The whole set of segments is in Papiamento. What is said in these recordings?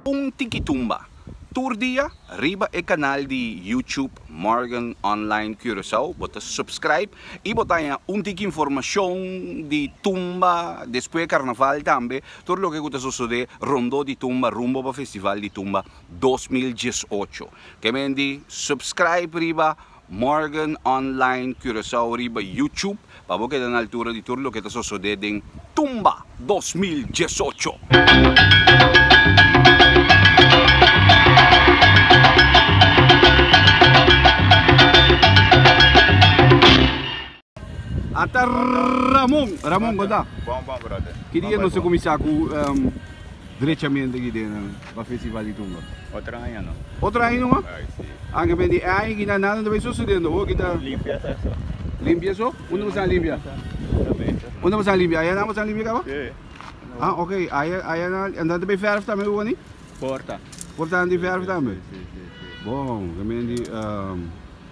Un tiki tumba tur dia riba e kanal di YouTube Morgan Online Curaçao. Bo ta subscribe i bo ta haña un tiki informashon di tumba despues karnaval tambe tur loke ku ta sosodé rondó di tumba rumbo pa festival di tumba dos mil diesocho. Kemendi subscribe riba. Morgan Online Curaçao riba YouTube pa bo keda na altura di tur loke ta sosode den Tumba dos mil diesocho. Ata Ramon, Ramon konta. Bon bon brother. Ki dia nos ta kuminsá ku drechamente aki den pa Festival di Tumba? Otro aña no. Otro aña no mas? Ai si. Anke men di e aña aki na nada no ta bai susedendo ho kita. Limpia sa eso. Limpia so? Unda boso a limpia? Pura mesa. Unda boso a limpia? Aya nan boso a limpia kaba? Si. Ah ok, aya aya nan a nan ta bai verf tambe unda ni? Porta. Porta nan di verf tambe? Si si si. Bon, ke men di.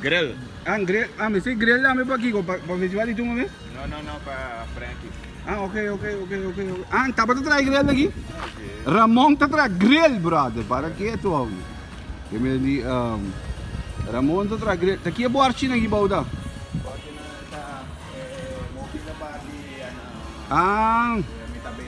Grill. An grill ah mi say grill dame pa kiko pa pa festival di tunga mes? No no no pa Frankie. Ah ok ok ok ok ok ah tapa ta trae grill aki? Ramon ta trae grill brother para keto awi ke mi di um, Ramon ta trae grill ta ki e borchi na ki bou da? Borchi na ta eh eh mofi la party ana ah.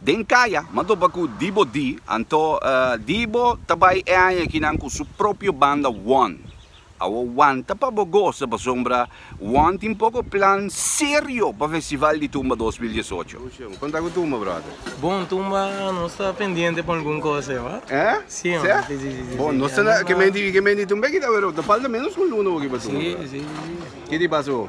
Den kaya m'a topa ku Dibo D. Anto Dibo ta bai e aña aki nan ku su propio banda One. Awo wanta pa bo gosa pasobra Juan tin poko plan serio pa Festival di Tumba dos mil diesocho. Konta ku tumba brother. Bon tumba nos ta pendiente pa algun cosa e wa. Eh? Si man. Seh? Si si si si. Bon nos ta na ke menti ke menti tumba e kita wera ta falta menos ku un luna hoki pa tumba brother. Si si si si. Ke di pasa ho?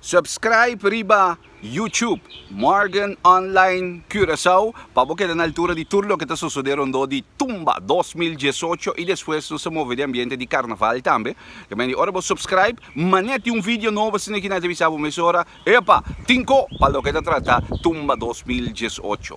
Subscribe riba YouTube Morgan Online Curaçao pa bo keda na altura di tur loke ta sosode rondó di Tumba dos mil diesocho i despues nos ta move di ambiente di Carnaval tambe. Ta mende ora bo subscribe manera tin un video nobo asina ki nan ta bisa bo mesora epa tin ko pa loke ta trata Tumba dos mil diesocho.